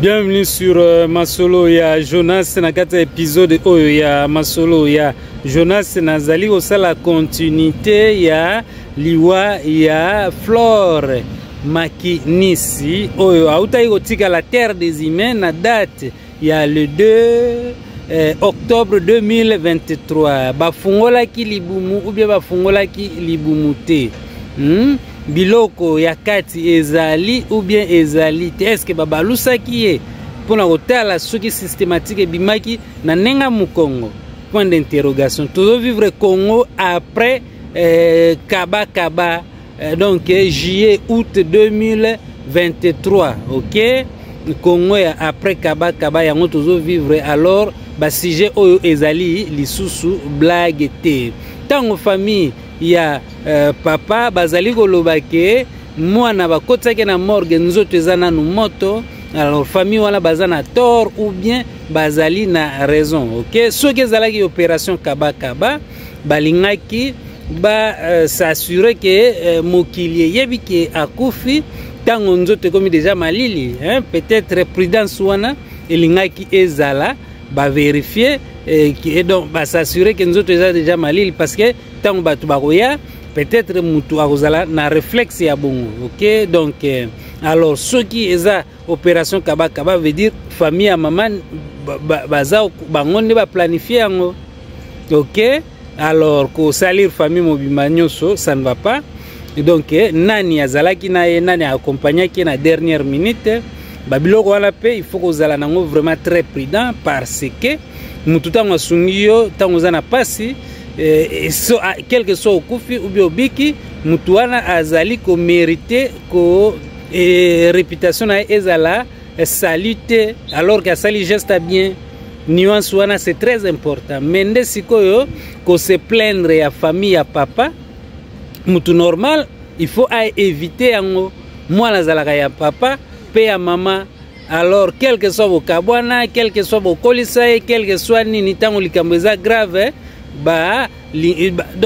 Bienvenue sur euh, Masolo ya Jonas na kati ya episode oyo ya Masolo ya Jonas nazali kosala continuité ya liwa ya Flore Makinisi oyo autaki kotikala terre des humains na date ya le 2 eh, octobre 2023 bafungolaki libumu ubie bafungolaki libumu te hmm? biloko ya kati ezali ubien ezali te eske babalusaki ye mpo na kotala soki systematike ebimaki na ndenge ya mokongo point d'interrogation tozovivre congo après eh, kabakaba kaba. Eh, donc eh, juillet août 2023 ok congo ya après kaba kaba yango tozovivre alors basujet oyo ezali lisusu blague te ntango famille ya uh, papa bazali koloba ke mwana bakotisaki na morgue nzoto eza nanu moto alors famille wana baza na tort ou bien bazali na raison ok soki ezalaki opération kabakaba kaba, balingaki basasure euh, ke euh, mokili eyebi ke akufi ntango nzoto ekomi deja malili hein? peut-être prudence wana elingaki ezala baverifie eh, et donc basasure ke nzoto eza deja malili parce que ntango bato bakoya peut-être motu akozala na réflexe ya bongo ok donc eh, alors soki eza operation kaba kaba veut dire famille ya mama baza bango nde baplanifie yango ok alors kosalir famille mobimba nyonso ça ne va pas donc eh, nani azalaki na ye nani aakompagnaki ye na dernière minute babiloko wana mpe il faut kozala nango vraiment très prudent parce que motu ntango asungi yo ntango oza na mpasi eh, so, ah, quelque soit okufi ou bien obiki motu wana azali komerite ko et réputation na ezala salute alors que sali geste bien nuance wana c'est très important mais nde sikoyo ko se plaindre ya famille ya papa mutu normal il faut a éviter yango mwana azalaka ya papa pe ya mama alors quel que soit bokabwana quel que soit bokolisa ye quel que soit nini ntango likambo eza grave eh, ba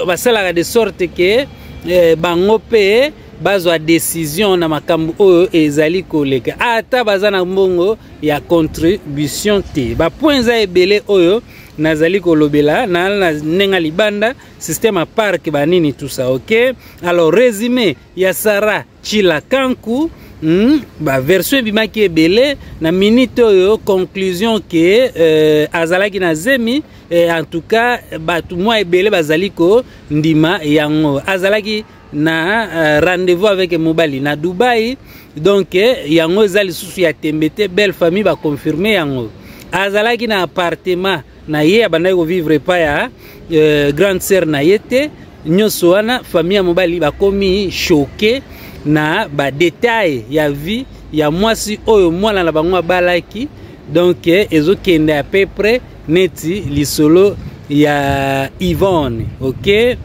basalaka de sorte ke eh, bango mpe bazwa decision na makambo oyo ezali koleka ata baza na mbongo ya contribution te bapoint eza ebele oyo nazali kolobela na, na ndenge libanda système ya parke banini tusa ok alors résumé ya sara chila kanku Hmm, baversion ebimaki ebele na minute oyo conclusion ke euh, azalaki na zemi eh, en tout cas bato mwa ebele bazali kondima yango azalaki na uh, rendez-vous avec mobali na dubai donc eh, yango eza lisusu ya tembe te belle famille baconfirme yango azalaki na appartement na ye abandaki kovivre epa ya uh, grande sœur na ye te nyonso wana famille ya mobali bakomi choke na badetail ya vie ya mwasi oyo mwana na bango abalaki donc eh, ezokende à peu près neti lisolo ya Yvonne ok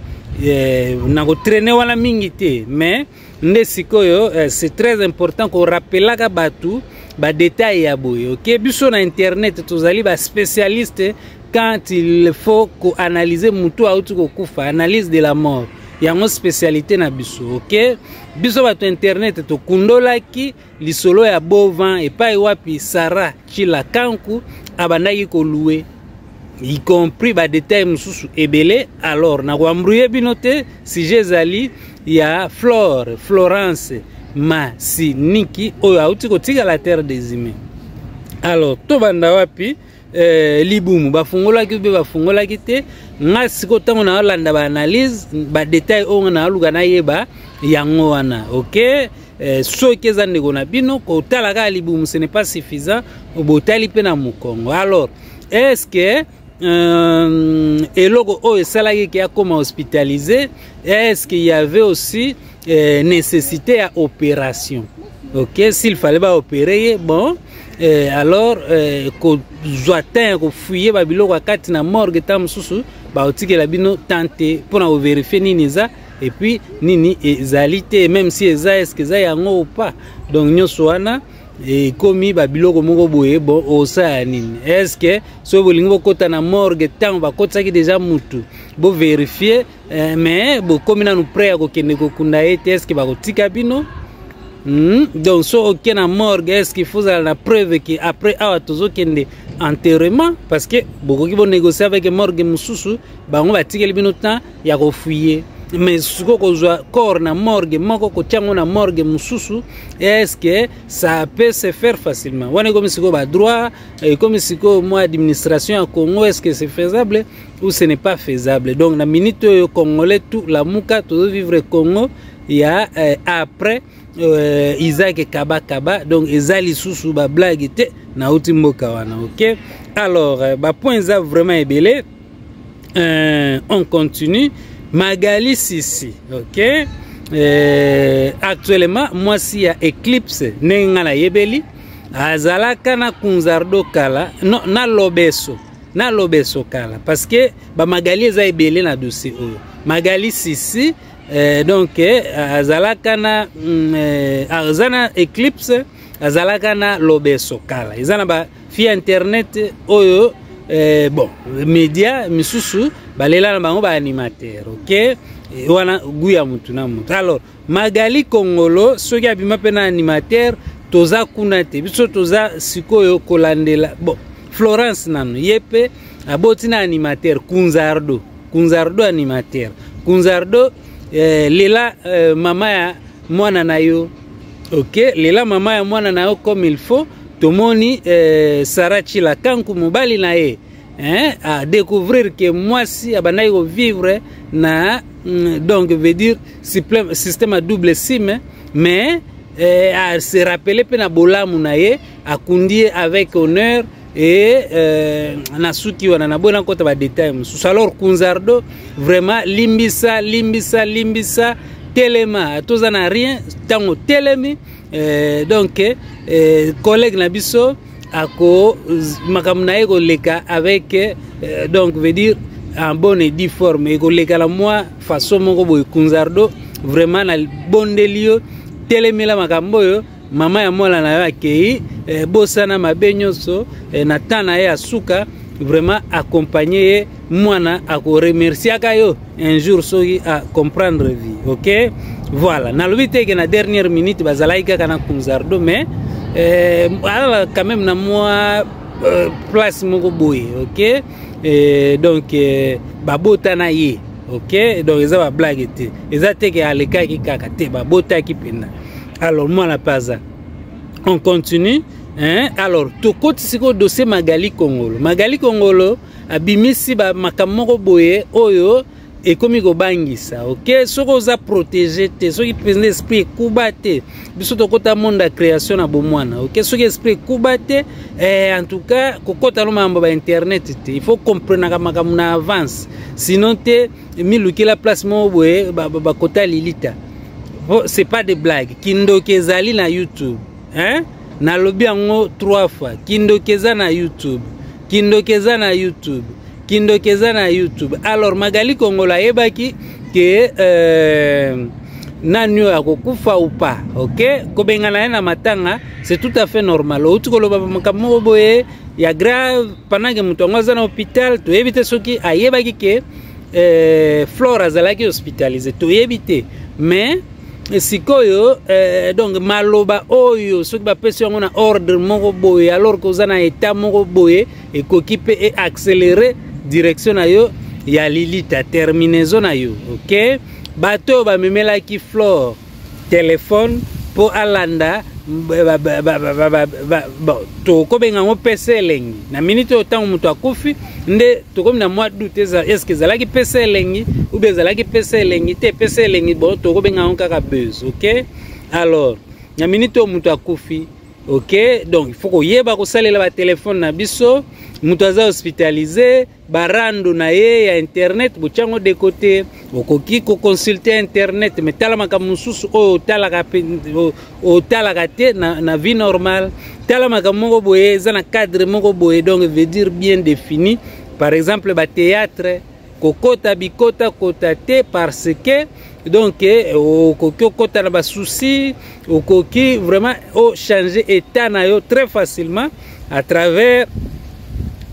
eh, nakotraine wana mingi te mais nde sikoyo eh, c'est très important korapelaka bato badetail ya boye ok biso na internet tozali baspécialiste quand il faut koanalyse motu auti kokufa analyse de la mort yango spécialité na biso ok biso bato internet tokundolaki lisolo ya bovan epai wapi sara chilakanku abandaki kolue y compris badetail mosusu ebele alors nakoambruye bino te sujet ezali ya flore florence masiniki oyo auti kotikala terre des humains alors tobanda wapi eh, libumu bafungolaki mpe bafungolaki te nga sikoyo ntango nayolanda baanalyse badetail oyo nga nayaluka nayeba yango wana ok eh, soki eza ndeko na bino kotala kaka libumu ce n'est pas suffisant botali mpe na mokongo alors est ce que euh, eloko oyo esalaki ke akoma hospitalisé est ce qu'il y avait aussi eh, nécessité ya opération ok s'il fallait baopere ye bon Eh, alors eh, kozwa temps ya kofuye babiloko ya kati na morgue ntango mosusu bakotikela bino temps te mpo na koverifie nini eza epuis nini ezali te meme si eza eske eza yango opa donc nyonso wana ekomi babiloko moko boye bon osala nini eske soki bolingi bokɔta na morgue ntango bakotisaki deja mutu boverifie eh, mais bokomi nanu près ya kokende kokunda ye te eske bakotika bino mm? donc so oke na morgue eske faut ozala na preuve ke après awa tozokende enterrement parce que bokoki bonégocie avec morgue mosusu bango batikeli bino temps ya kofuye mais sikoyo kozwa corps na morgue moko kotya yango na morgue mosusu eske ça peut se faire facilement wana ekomi sikoyo badroit ekomi sikoyo mwa administration ya congo eske c'est faisable ou ce n'est pas faisable donc na minute oyo congolais tout lamuka tozovivre congo ya euh, après euh, isaac kabakaba donc eza lisusu bablage te nauti mboka wana ok alors euh, bapoint eza vraiment ebele euh, on continue magali sisi ok euh, actuellement mwasi ya éclipse ndenge ngai nayebeli azalaka na kunzardo kala no, na lobeso na lobe esokala parce que ba magali eza ebele na dossier oyo magali sisi euh, donc euh, azalaka na mm, euh, aza na éclipse azalaka na lobe esokala eza na ba fi internet oyo euh, bon media misusu balela na bango ba animateur ok wana gout ya mutu na mutu alors Magali Kongolo soki abima mpe na animateur toza kuna te biso toza sikoyo kolandela bon Florence nanu ye mpe aboti na animateur Kunzardo Kunzardo animateur Kunzardo eh, lela eh, mama ya mwana na yo ok lela mama ya mwana na yo comme il faut tomoni eh, Sarah Chila Kanku mobali na ye hein, à découvrir que moi si abandaki ko vivre na mm, donc veut dire système à double sim mais eh, à se rappeler pe na bolamu na ye akundi avec honneur et euh, na suki wana na boye nakota badetail mosusu alors kunzardo vraiment limbisa limbisa limbisa telema toza na rien ntango telemi euh, donc euh, collègue na biso ako makambo na ye koleka avec euh, donc veut dire en bonne et due forme ekoleka na mwa façon moko boye kunzardo vraiment na bondeli yo telemela makambo oyo mama ya mwana na yo akei eh, bosana mabe nyonso eh, na temps na ye ya suka vraiment accompagne ye mwana akoremerciaka yo un jour soki a comprendre vie ok voilà nalobi te ke na dernière minute bazalaki kaka na kunzardo mais euh, alala quand même na mwa euh, place moko boye ok euh, donc euh, babota na ye ok donc eza bablage te eza te ke alekaki kaka te babotaki mpenza alors mwana mpe aza on continue hein? alors tokoti sikoyo dossier magali kongolo magali kongolo abimisi ba makambo moko boye oyo ekomi kobangisa ok soki oza protege te soki mpenza esprit ekuba te biso tokota monde ya création na bomwana ok soki esprit ekuba te eh, en tout cas kokota no makambo ba internet te il faut comprenaka makambo na avance sinon te milukela place moko boye bakota ba, ba lilita c'est pas de blague kindoki ezali na youtube hein nalobi yango trois fois kindoki eza na youtube kindoki eza na youtube kindoki eza na youtube alors magali kongola ayebaki ke euh, nani oyo akokufa ou pas ok kobengana ye na matanga c'est tout à fait normal outi koloba makambo moko boye ya grave pendant ke moto yango aza na hôpital toyebi te soki ayebaki ke euh, flore azalaki hospitalise toyebi te mais sikoyo eh, donc maloba oyo soki bapesi yango na ordre moko boye alors koza na etat moko boye ekoki mpe eaccélere direction na yo ya lilita terminaison na yo ok bato oyo bamemelaki flore telefone mpo alanda tokobenga yango pese elengi na miniti oyo ntango moto akufi nde tokomi na mwa doute eza eske ezalaki pesa elengi ou bien ezalaki pesa elengi te pesa elengi bo tokobenga yango kaka buzz ok alors na minute oyo moto akufi ok donc faut koyeba kosalela batelefone na biso moto aza hospitalize barando na ye ya internet botya yango de kote okoki koconsulte internet me tala makambo mosusu oyo otalaka otalaka te na, na vie normale tala makambo moko boye eza na cadre moko boye donc veut dire bien défini par exemple bathéâtre kokota bikota kota te parce que donc eh, okoki okota na basusi okoki vraiment ochange état na yo très facilement à travers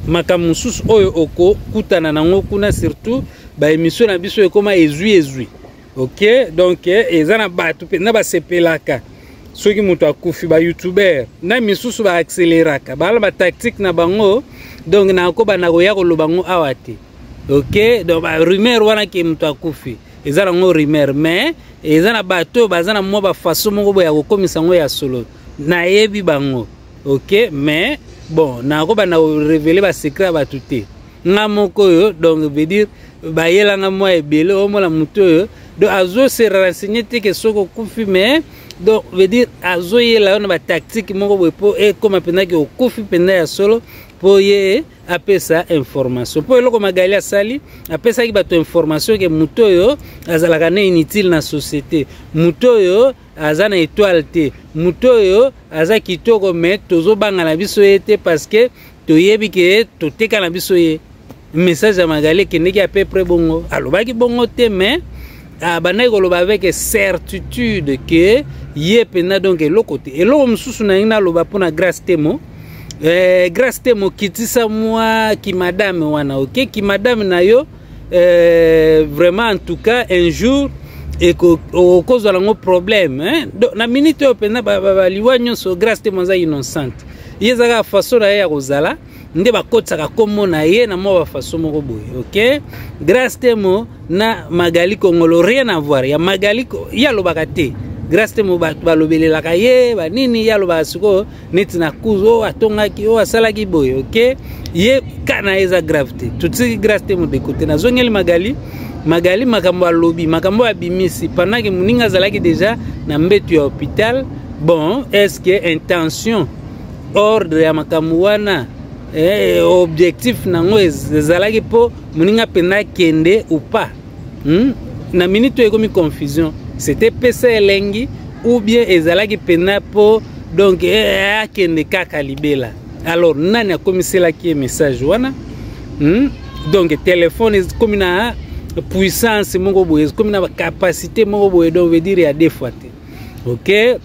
makambo mosusu oyo okokutana nango kuna surtout baémission na biso ekoma ezwi ezwi ok donc eh, eza na bato mpenza basepelaka soki moto akufi bayoutubeur na misusu baakseleraka bala batactique na bango donc nakoba na koya koloba yango awa te ok donc barumeur wana ke moto akufi eza nango rumeur mais eza na bato oyo baza na mwa bafaso moko boye ya kokomisa yango ya solo nayebi bango ok mais bon nakobanda korevele basecret ya bato te nga moko oyo donc veut dire bayelanga mwa ebele omona motu oyo donc azo se renseigner te ke soki okufi mais donc veut dire azoyela yo na batactique moko boye mpo ekóma mpenza ke okufi mpenza ya solo mpo ye apesa information mpo eloko magali asali apesaki bato information ke moto oyo azalaka na inutile na société moto oyo aza na étoile te moto oyo aza kitoko mais tozobanga na biso ye te parce que toyebi ke toteka na biso ye message ya magali ekendeki à peu près bongo alobaki bongo te mais abandaki ah, koloba avec certitude ke ye mpenza donc eloko te eloko mosusu nalingi naloba mpo na grace temo eh, grace temo kitisa mwa kimadame wana oke okay? kimadame na yo euh, vraiment en tout cas un jour okozwa nango problème hein? Donc, na minute oyo mpenza baliwa nyonso grace te moza innocente ye ezaka faso na ye ya kozala nde bakotisaka nkombo na ye na mwa bafaso moko boye ok grace temo na magali kongolo rien avoir ya magali ye alobaka te grace temo balobelelaka ye banini ye alobaka sikoyo neti na kuzu oyo atongaki oyo asalaki boye oke ye ka na ye eza grave te totisaki grace te modeko te nazongeli magali magali makambo alobi makambo oyo abimisi pendant ke moninga azalaki deja na mbetu ya hôpital bon est ce que intention ordre ya makambo wana eh, objectif na yango ezalaki mpo moninga mpenza akende ou pas hmm? na minute oyo ekomi confusion c'était pesa elengi ou bien ezalaki mpena mpo donc eh, eh, akende kaka libela alors nani akomiselaki ye message wana hmm? donc telefone ekomi na puissance moko boye ekomi na bacapacité moko boye donc veut dire ya deux fois te ok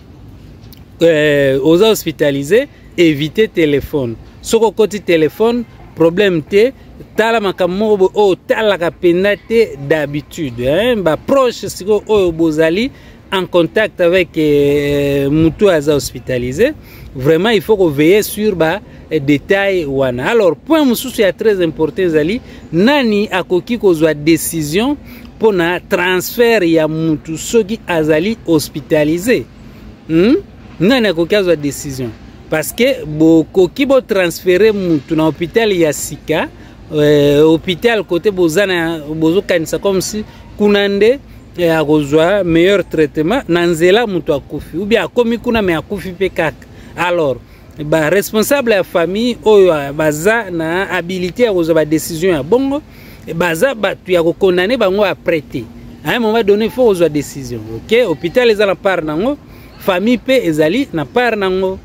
euh, oza hospitalisé Eviter telephone. Soki okoti telephone, problème te. Tala makambo moko boye oyo otalaka mpenza te d'habitude. Hein? Ba proche sikoyo oyo bozali en contact avec euh, mutu oyo aza hospitalisé. Vraiment, il faut ko veiller sur ba eh, détail wana. Alors, point mosusu ya très important ezali nani akoki kozwa décision mpo na transfert ya mutu soki azali hospitalisé. Hmm? nani akoki azwa décision parce que bokoki botransfere mutu na hôpital ya sika euh, hôpital kote boza na bozokanisa comme si kuna nde eh, akozwa meilleur traitement na nzela moto akufi ou bien akomi kuna me akufi mpe kaka alors baresponsable ya famille oyo ah, baza na habilité ya kozwa badécision ya bongo baza bato ya kokondane bango après te à un moment donné faut kozwa décision ok hôpital eza na part nango famille mpe ezali na part nango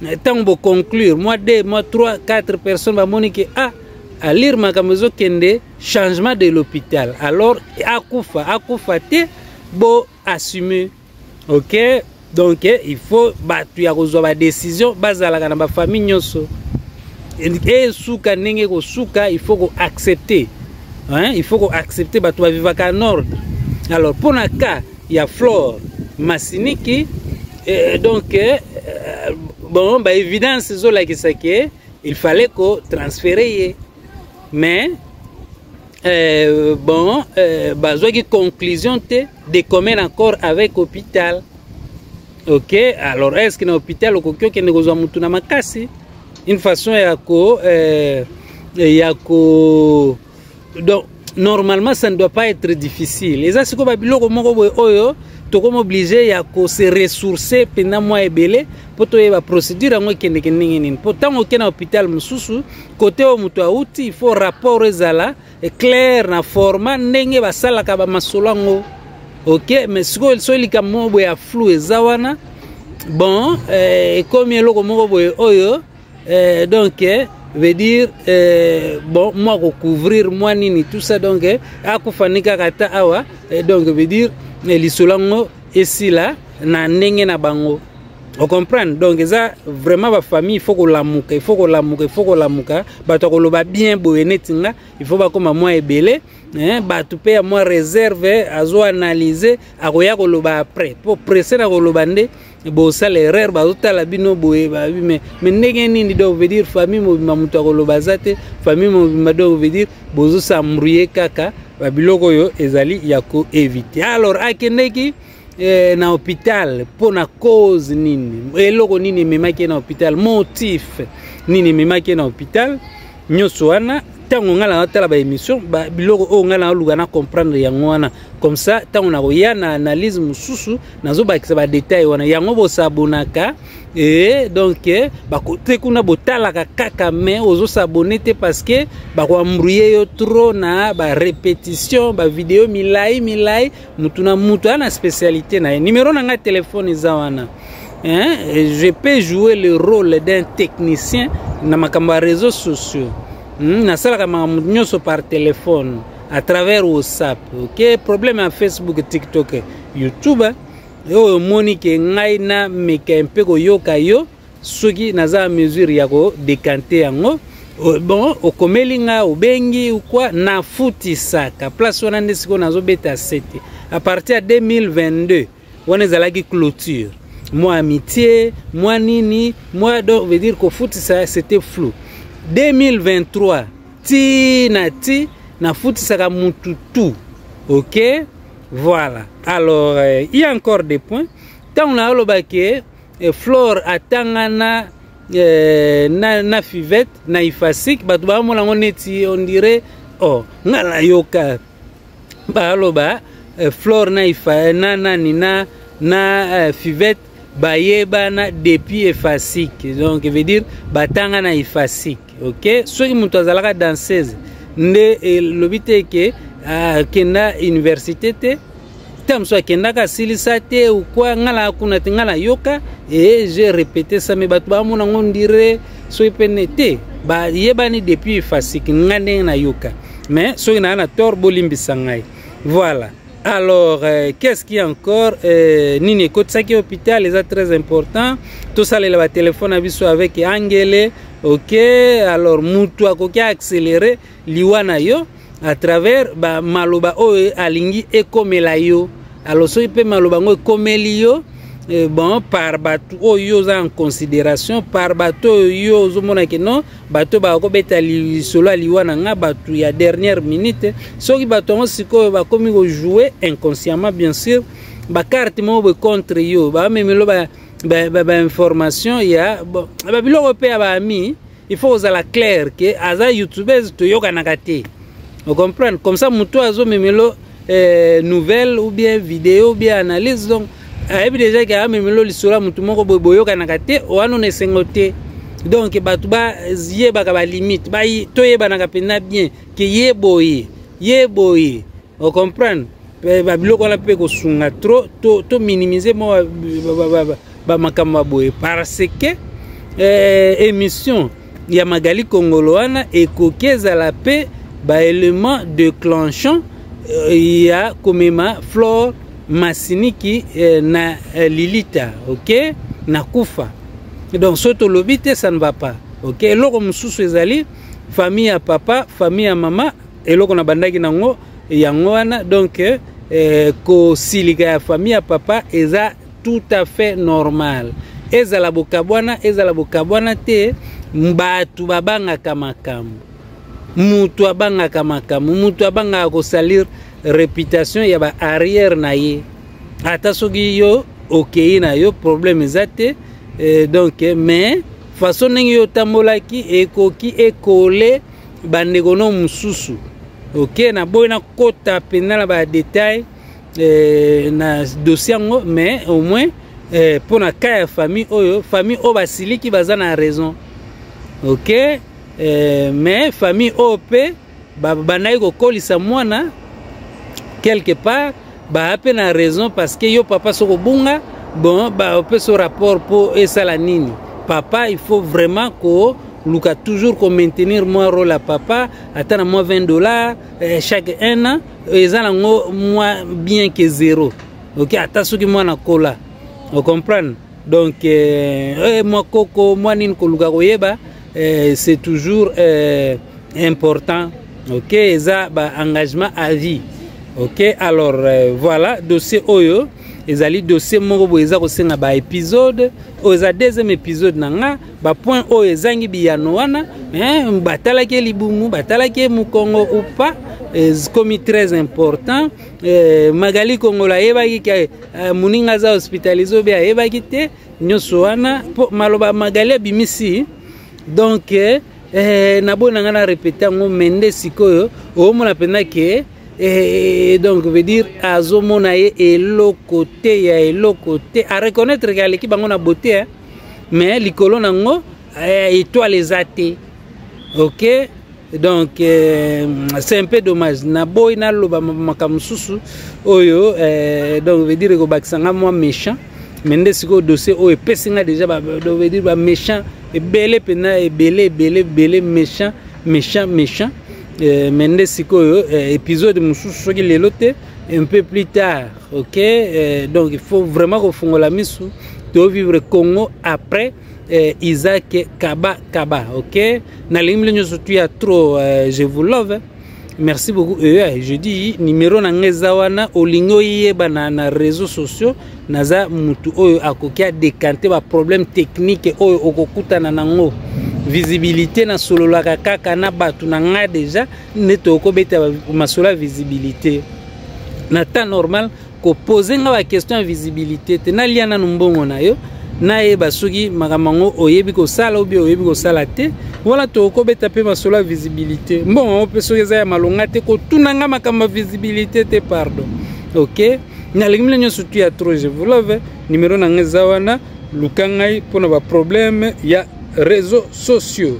ntango boconclure mwa 2 mwa 3 4 personnes bamoni ke a ah, alire makambo ezokende changement de l'hôpital alors akufa akufa te bo assume ok donc eh, il faut bato ya kozwa badécision bazalaka na bafamille nyonso esuka ndenge ekosuka il faut koaccepte il faut koaccepte bato bavivaka en ordre alors mpo na cas ya flore masiniki eh, donc eh, bon ba évidence ezolakisa ke il fallait ko transfere ye mais euh, bon euh, bazwaki conclusion te de commun accord avec hôpital ok alors est ce que na hôpital okoki okende kozwa motu na makasi une façon ya ko euh, ya ko donc normalement ça ne doit pas être difficile eza sikoyo babiloko moko boye oyo tokomi oblige ya kose ressource mpenza mwa ebele mpo toyeba procédure yango ekendeke ndenge nini mpo ntango okei na hôpital mosusu kote oyo moto auti il faut rapport ezala claire na format ndenge basalaka bamasolo yango ok mais sikoyo soki likambo moko boye ya flou eza wana bon eh, ekomi eloko moko boye oyo eh, donc eh, veut dire eh, bon mwa kocouvrir mwa nini tout ça donc eh, akufa ni kaka ata awa eh, donc veut dire eh, lisolo yango esila na ndenge na bango ocomprendre donc eza vraiment bafamille ifo kolamuka ifo kolamuka ifo kolamuka bato ya koloba bien boye neti nga ifo bakóma mwa ebele eh, bato mpe ya mwa réserve azoanalyse akoya koloba après mpo presse na koloba nde bosala erreur bazotala bino boye babi me me ndenge nini donc veut dire famille mobimba moto akoloba aza te famille mobimba donc veut dire bozosambrouye kaka babiloko oyo ezali ya koevite alors akendeki eh, na hôpital mpo na cause nini eloko nini ememaki ye na hôpital motif nini ememaki ye na hôpital nyonso wana ntango ngai natala baémission biloko oyo ngai naluka na comprendre yango wana comme ça ntango nakoya na analyse mosusu nazobakisa badetail wana yango bosabonaka e donc eh, te kuna botalaka kaka mai ozosabone te parce que bakoambrouye yo trop na barépétition bavideo milai milai motu na motu aa na spécialité na ye numero na ngai telefone eza wana hein? je peux jouer le rôle d'un technicien na makambo ya réseaux sociaux hmm? nasalaka makambo nyonso par téléphone à travers whatsapp ok problème ya facebook tiktok youtube oyo omoni ke ngai nameka mpe koyoka yo soki naza mesure ya kodekante yango bon okomeli ngai obengi ukwa nafutisaka place wana nde sikoyo nazobeta sete à partir ya 2022 wana ezalaki clôture mwa amitié mwa nini mwa donc veut dire kofutisa c'était flou 2023 ti na ti nafutisaka mutu tout ok voilà alors euh, il y a encore des points ntango naoloba ke eh, flore atangana eh, na, na fivette na ifasique bato baamona yango neti on dirait oh nga nayoka baloba eh, flore na ifa na nani na na eh, fivette bayebana depuis efasique donc veut dire batanga na efasique ok soki moto azalaka danseuse nde elobi te ke akenda ah, université te ntango mosusu akendaka asilisa te ukwa ngai na kuna te ngai nayoka ee je repete same bato bamona ngo ndire soki pene te bayebani depuis fasiki ngai ndenge nayoka mais soki naa na tort bolimbisa ngai voilà alors euh, qu'est-ce qui encore euh, nini ekotisaki hôpital eza très important tosalela batelefone na biso avec angele ok alors motu akoki accéléré liwa na yo à travers ba maloba oyo alingi ekomela yo alors soki mpe maloba yango ekomeli yo eh, bon par bato oyo oza en considération par bato oyo yo ozomona ke non bato baka kobeta lisolo ya liwa na nga bato ya dernière minute soki bato yango sikoyo bakomi kojoue inconsciemment bien sûr bakarte moko boye contre yo bamemelo bainformation ba, ba, ba ya babiloko mpe ya baami il faut ozala clair ke aza youtubeuse toyokanaka te ocomprendre comme ça motu azomemelo eh, nouvelle ou bien video ou bien analyse donc ayebi deja ke amemelo lisolo ya motu moko boye boyokanaka te wana ona esengo te donc bato bayebaka balimite toyebanaka mpenza bien ke ye boye ye boye ocomprendre babiloko wana mpe kosunga trop to, to minimize mwa ba makambo boye parce que eh, émission ya magali kongolo wana ekoki ezala mpe baélément déclenchant eh, ya komema flore masiniki eh, na eh, lilita ok na kufa donc soki tolobi te ça ne va pas ok eloko mosusu ezali famille ya papa famille ya mama eloko nabandaki nango yango wana donc eh, kosilika ya famille ya papa eza tout à fait normal ezala bokabwana ezala bokabwana te bato babangaka makambo moto abangaka makambo moto abangaka kosalir reputation ya ba arrière na ye ata soki yo okei na yo problème eza te eh, donc mais façon ndenge yo otambolaki ekoki ekole bandeko no mosusu oke okay, naboyi nakota mpenza na badetail eh, na dossier yango mais au moins eh, mpo na cas ya famille oyo famille oyo basiliki baza na raison ok eh, mais famille oyo mpe babandaki kokolisa mwana quelque part baa mpe na raison parce que yo papa soki obunga bon baopesa yo rapport mpo esala nini papa il faut vraiment koluka toujours komaintenir mwa role ya papa ata na mwa 20 dollars eh, chaque un an eza nango mwa bien ke zero ok ata soki mwana kola ocomprendre donc eh, eh, mwa koko mwa nini koluka koyeba eh, c'est toujours eh, important ok eza baengagement à vie ok alors eh, voilà dossier oyo ezali dossier moko boye eza kosenga baepisode oyo eza deuxième épisode na nga ba point oyo ezangi biyano wana eh, batalaki ye libumu batalaki ye mokongo upa ekomi eh, très important eh, magali kongola ayebaki ke eh, moninga aza hospitalise obe ayebaki te nyonso wana mpo maloba magali abimisi donk eh, eh, naboni na ngai na repete yango me nde sikoyo oomona mpenza ke eh, donc veut dire azomona ye eloko te ya eloko te areconnaitre ke aleki bango na bote eh. mais likolo na yango eh, etoile eza te ok donc euh, c'est un peu dommage naboyi naloba makambo mosusu oyo euh, donc veut dire ekobakisa nga mwa méchant mais nde sikoyo dossier oyo epesi nga déjà donc veut dire baméchant ebele mpenza ebele ebele ebele méchant méchant méchant euh, mais nde sikoyo euh, épisode mosusu soki lelo te un peu plus tard ok eh, donc il faut vraiment kofungola misu to vivre congo après eh, isaac kaba kaba ok nalingi bino nyonso tu ya trop eh, je vous love merci beaucoup eh, eh je dis numero na ngai eza wana olingi oyeba na, na réseau sociaux naza mutu oyo akoki adekante baproblème technique oyo okokutana nango visibilité nasololaka kaka na bato na ngai deja nde tokobeta masolo ya visibilité na temps normal kopose nga baquestion ya visibilité te nalia nanu mbongo na yo nayeba soki makambo yango oyebi kosala obi oyebi kosala te wana tokobeta mpe masolo ya visibilité mbongo yango mpe soki eza ya malonga te kotuna nga makambo ya visibilité te pardon ok nalingi mile nyonso tu ya trop je vous love numero na nga eza wana luka ngai mpo na baproblème ya réseau sociaux